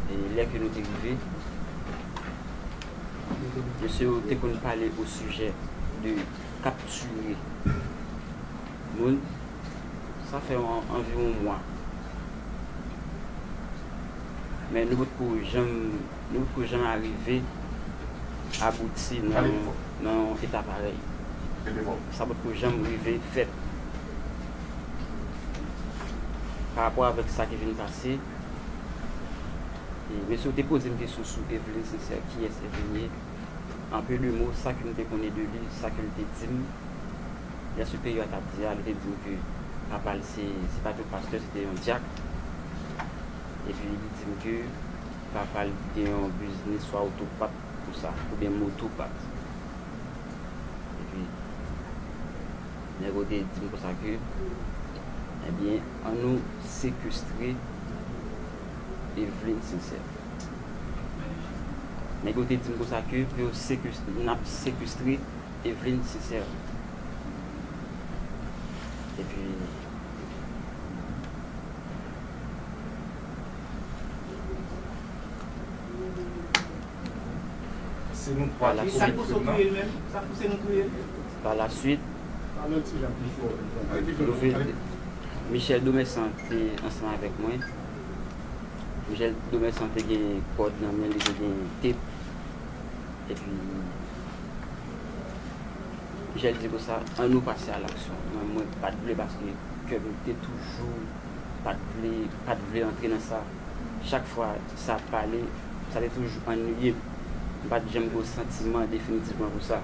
E lè ke nou te rive, mesye yo te konn pale o sijè de kaptire moun. Sa fè anviwon mwa. Men nou potko janm, nou potko janm arive abouti nan yon eta parèy. Sa potko janm rive fèt. Pa rapò avèk sa ki vin pase, mesye ou te poze m kesyon sou Evelyne Sincère, kiyès Evelyne ye? An peu de mots, sa ke m te konnen de li, sa ke l te di m, lè se peyi yo a t ap di a, li te di m ke papa l se, se pa te yon pastè, se te yon dyak. Epi li di m ke papa l gen yon biznis swa otopat konsa, oubyen motopat. Epi. Nèg ou te dim konsa ke ebyen an nou sekestre Evelyne Sincère Nèg yo te dim konsa ke pou yo sekestre nap sekestre Evelyne Sincère Epi Se nou 3 ki sekestre l non? Pa la suit, Michel Domessan te ansanm avèk mwen. Michel Domessan te gen kòd nan men li, te gen tep. E pi, Michel di konsa, an nou pase a laksyon. Men mwen pa t vle paske kè m te toujou pa t vle, pa t vle antre nan sa. Chak fwa sa ap pale, sa te toujou annuiye m. M pa t janm gen yon santiman definitivman pou sa.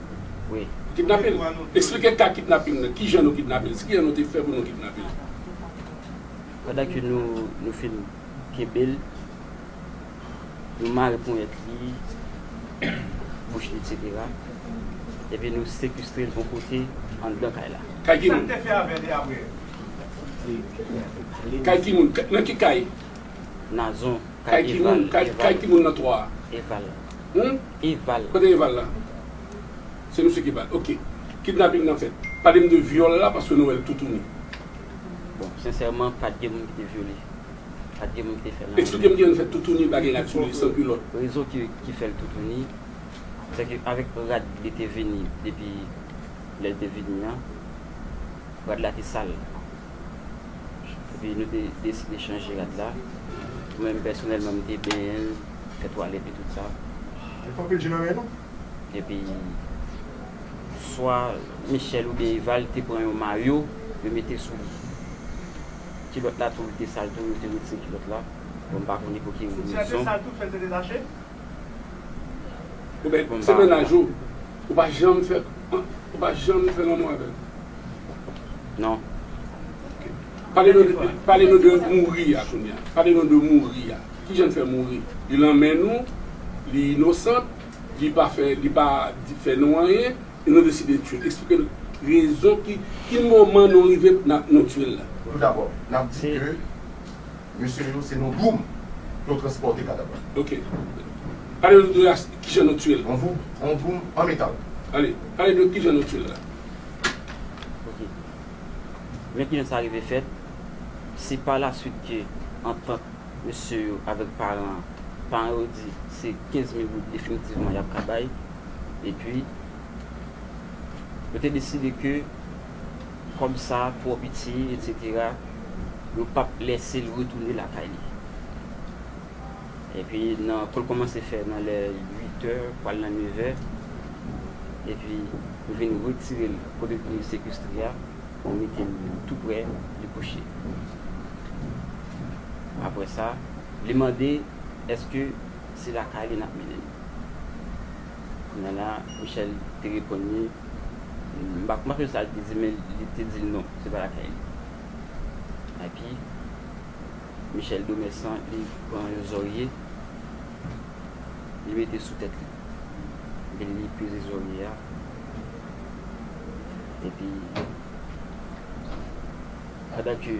wi. Kidnape l? Esplike ka kidnaping nan, kijan nou kidnape l, s kijan nou te fè pou nou kidnape l? Pandan ke nou nou fin kenbe l, nou mare ponyèt li, bouch li eksetera, epi nou sekestre l yon kote anndan kay la. Kay ki moun? Sa n te fè avè li apre? Kay ki moun? Nan ki kay? Nazon, kay Eval. Kay ki moun? Kay ki moun nan 3 a? Eval. Humm Eval. Kote eval la? Se misye ki bal ok. Kidnapping nan fèt. Palem de vyòl la paske nou wèl toutouni. Bon sensèman pat gen moun ki te vyole. Pat gen moun ki te fèl anyen. Eksplikem kijan nou fè toutouni bagay rad sou li san kulòt. Rezon ki fèl toutouni se ke avèk rad li te vini depi lèl te vini an rad la te sal epi nou te deside chanje rad la mwen pèsonèlman mte benyenl. Etwal epi tout sa. Li pran pil je nan men nou. Epi swa Michel oubyen Eval te pran yon mayo yo mete sou li. Kilòt la tou te sal tou yo te retire kilòt la. Bon m pa konnen pou ki rezon. Soutyen an te sal tou fèl te detache. Oubyen se mennaj ou. Ou pa janm fè ou pa janm fè lanmou avèl? Non. Ok. Pale nou de mouri a kounya. Pale nou de mouri a. Kijan l fè mouri? Li lan men nou, li inosant, li pa fè, li pa fè nou anyen, e nou deside tye l. Eksplike l rezon ki, ki moman nou rive pou nan, nou tye l la. Pou tou dabò, n ap di ke mesye yo se nou boum pou yo transpòte kadav la. Ok. Pale nou de as, kijan nou tye l. On voub, on boum an metal. Ale, pale de kijan nou tye l la. Ok. Men kijan sa rive fèt, se pa la swit ke antant. mesye yo avèk paran an. Paran yo di se 15 mil goud definitivman y ap ka bay. Epi, yo te deside ke kòb sa a twò piti, etsetera, yo p ap lèse l retounen lakay li. Epi, nan kou l kòmanse fè nan lè uitè, pral nan nevè, epi yo vin retire l kote l te sekestre a, yo mete l toupre li kouche. Apre sa, li mande èske se lakay li n ap mennen li. Kounye a la, Michèl te reponn li, m pa konprann sa li te di men li te di l non, se pa lakay li. Epi, Michèl Domèsan li pran yon zòrye, li mete sou tèt li. Epi li peze zòrye a. Epi, pandan ke.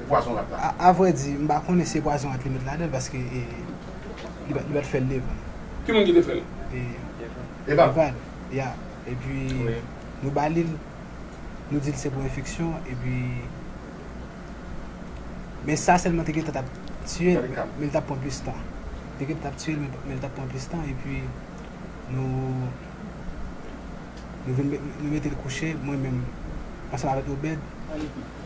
e pwazon rat la. A vrè di, m pa konnen si e pwazon rat li met ladan l paske e li pa li pa t fè l devan. Ki moun ki te fè l? E Eval. Eval, ya. Epi nou ba li l, nou di l se pou enfeksyon epi men sa sèlman te gentan t ap tiye l men l t ap pran plis tan. Te gentan t ap tiye l men l t ap pran plis tan epi nou nou vin nou mete l kouche mwen menm ansanm avèk Obed.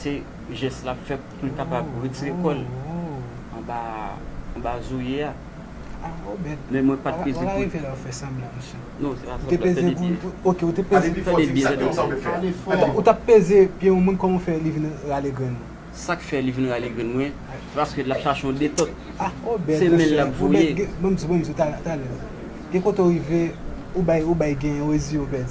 se jès lap fè poul kapab retire kòl anba anba zoye a men mwen pat peze poul non se pa sanblan fè de byen fè de byen tande sa ou tap peze pye yon moun kòman ou fè li vin rale grenn ou sak fè li vin rale grenn mwen se paske lap chache yon detòt se menl lap voye. Gen kote ou rive ou bay ou bay gen ou rezi obèd.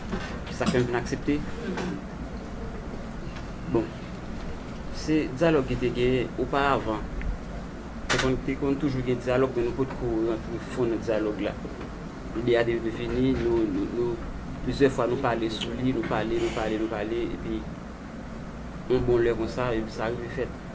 Se sa k fè m fin aksepte. Bon, se dyalòg ki te genyen oparavan. Te konn toujou gen dyalòg men nou potko rantre fon nan dyalòg la. Ide a te vini, nou, plizyè fwa nou pale sou li, nou pale, nou pale, nou pale epi yon bon lè konsa, epi sa rive fèt.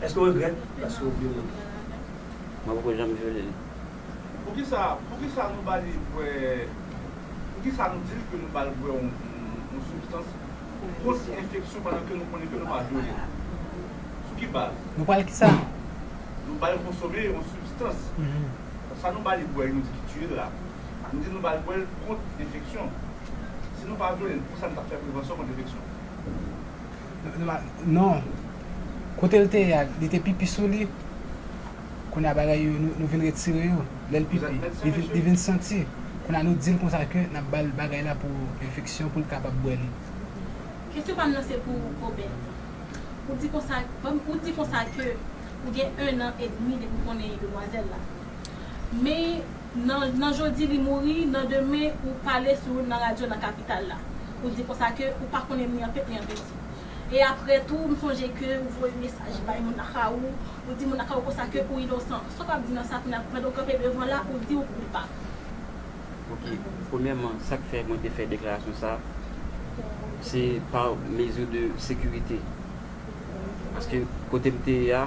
Eske w regrèt paske w vyole li? Mwen poko janm vyole li. Poukisa poukisa nou ba li bwè poukisa nou di l ke nou ba l bwè yon sibstans pou kont enfeksyon pandan ke nou konnen ke nou pa vyole l? Sou ki baz? Nou pral kisa? Nou ba l konsome yon sibstans. Sa nou ba li bwè nou di ki tiye l la, nou di nou ba l bwè l kont enfeksyon. Si nou pa vyole l, poukisa nou tap fè prevansyon kont enfeksyon? Non. Kote l te ye a, li te pipi sou li. Kounye a bagay yo, nou vin retire yo. Lè l pipi, li vin santi. Kounye a nou di l konsa ke n ap ba l bagay la pou enfeksyon pou l kapab bwè li. Kesyon pa m nan se pou ou Kobe. Ou di konsa, ou di konsa ke ou gen ennan edmi depi ou konnen demwazèl la. Men. Nan nan jodi li mouri, nan demen ou pale sou nan radyo nan kapital la. Ou di konsa ke ou pa konnen ni an pete ni an penti. E aprè tou m sonje ke ou voye mesaj bay moun nan ka ou, ou di moun nan ka ou konsa ke ou inosan. Sa w ap di nan sa kounye a pandan ou kanpe devan la ou di ou koupab? Ok, premyèman sa k fè mwen te fè deklarasyon sa se pa mezi de sekirite. Paske kote m te ye a.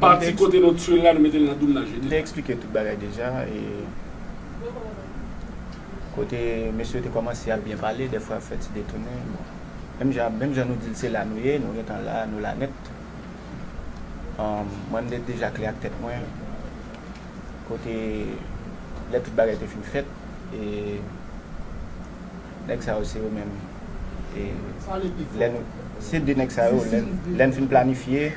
Pati kote nou tiyel la nou metel nan doum nan jete. Mte explike tout bagay deja e kote mesye yo te komanse ap byen pale dèfwa yap fè ti detounen bon menm jan menm jan nou dil se la nou ye nou gentan la nou la nèt mwen mte deja klè ak tèt mwen kote lè tout bagay te fin fèt e nèg sa yo se yo menm e lè nou se de nèg sa yo lèn fin planifye.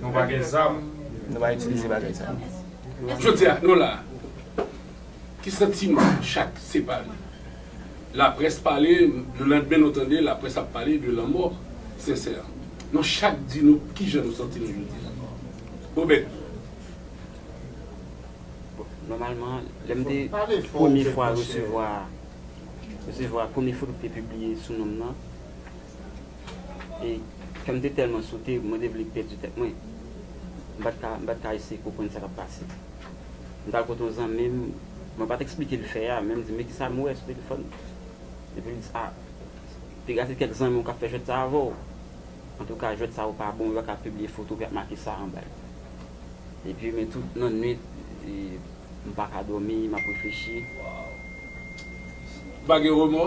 Nou pa gen zam. Nou pa itilize bagay sa yo. Jodi a, nou la a. Ki santiman chak separe? Laprès pale, le landmen nou tande laprès ap pale de lanmò Sensè. Nou chak di nou ki jan nou santi nou jodi a. Obed. Bon, nòmalman, lè m te premye fwa resevwa, resevwa premye foto ki te pibliye sou non m nan. e kè m te tèlman sote, mwen te vle pèdi tèt mwen. M pa t ka, m pa t ka eseye konprann sa k ap pase. M t al kote yon zanmi m, mwen pa t eksplike l fè a, men m di, men ki sa m wè sou telefòn nan? Epi l di, a, piga se kèk zanmi w k ap fè jwèt sa a avè w. Antouka, jwèt sa yo pa bon, yo pa ka pibliye foto ki ap make sa anba yo. Epi, men tout nannuit, m pa ka dòmi, m ap reflechi. Ou pa gen remò?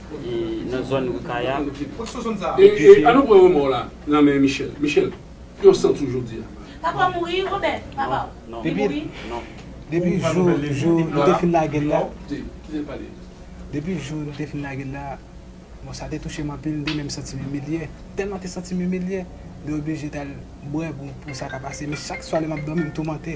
e nan zòn ri kaya. E e an nou pran remò w la nan men Michel. Michel, yon san tou jodi a. Papa w mouri Robert? Papa w? Non. Li mouri? Non. Depi jou jou nou te fin lage l la. Kite kite l pale. Depi jou nou te fin lage l la, bon sa te touche m anpil, m te menm santi m imilye. Tèlman m te santi m imilye, m te oblije t al bwè pou pou sa ka pase. Men chak swa lè m ap dòmi m toumante.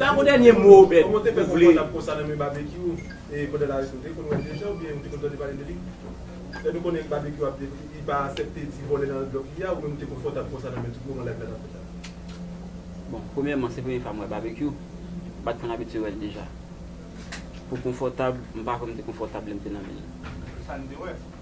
Dapre dènye mo Obed, ou vle. Bon, premyèman, se premye fwa m wè Babekyou. M pa t konn abitye wè l deja. Pou konfòtab, m pa kwè m te konfòtab lè m te nan men l.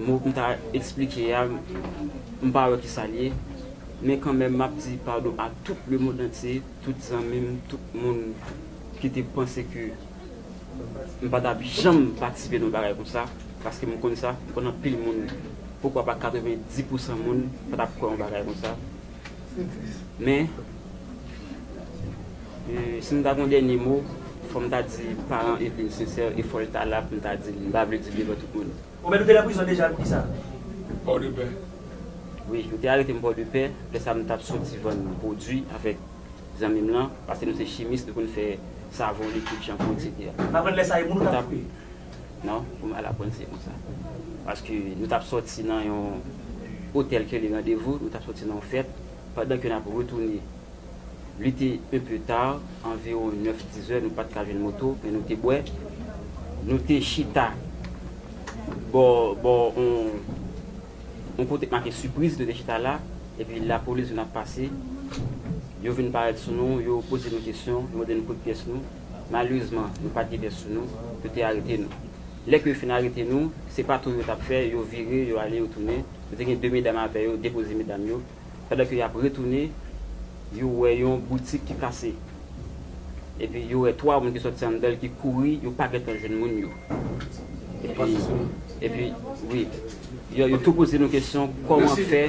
Mo m ta esplike a, m pa wè ki sa l ye. Men kanmenm m ap di padon a tout lemondantye, tout zanmi m, tout moun ki te panse ke m pa t ap janm patisipe nan yon bagay konsa. Paske m konn sa, m konn anpil moun, poukwa pa 90 pousan moun pa t ap kwè yon bagay konsa. Men. Si m ta gen yon dènye mo, fò m ta di paran Eveline sensè e fò l ta la pou m ta di l. M pa vle di l devan tout moun. Ou menm ou te nan prizon deja poukisa? Pòdepè. Wi, yo te arete m Pòdepè. Lè sa a m t ap soti vann pwodui avèk zanmi m lan. Pase nou se chimis, nou konn fè savon, likid, chanpou, eksetera. M aprann lè sa a e moun ou t ap fouye? Non, pou m al aprann se konsa. Paske nou t ap soti nan yon otèl ki rele Randevou. Nou t ap soti nan yon fèt. Pandan ke nap retounen li te un peu tard, anviron 9, 10 heures, nou pat ka jwenn moto men nou te bwè, nou te chita bò bò on on kote k make surprise nou te chita la epi lapolis vin ap pase yo vin parèt sou nou yo poze nou kesyon yo mande nou kot pyès nou malerezman nou pat gen pyès sou nou yo te arete nou. Lè ke yo fin arete nou, se pa tou yo t ap fè, yo vire, yo ale, yo tounen. Yo te gen de medam avè yo, depoze medam yo. Pandan ke y ap retounen, yo wè yon boutik ki kase. Epi yo wè twa moun ki sòti anndan l ki kouri, yo pa gen tan jwenn moun yo. Epi, epi, wi. Yo, yo tou poze nou kesyon, kòman fè.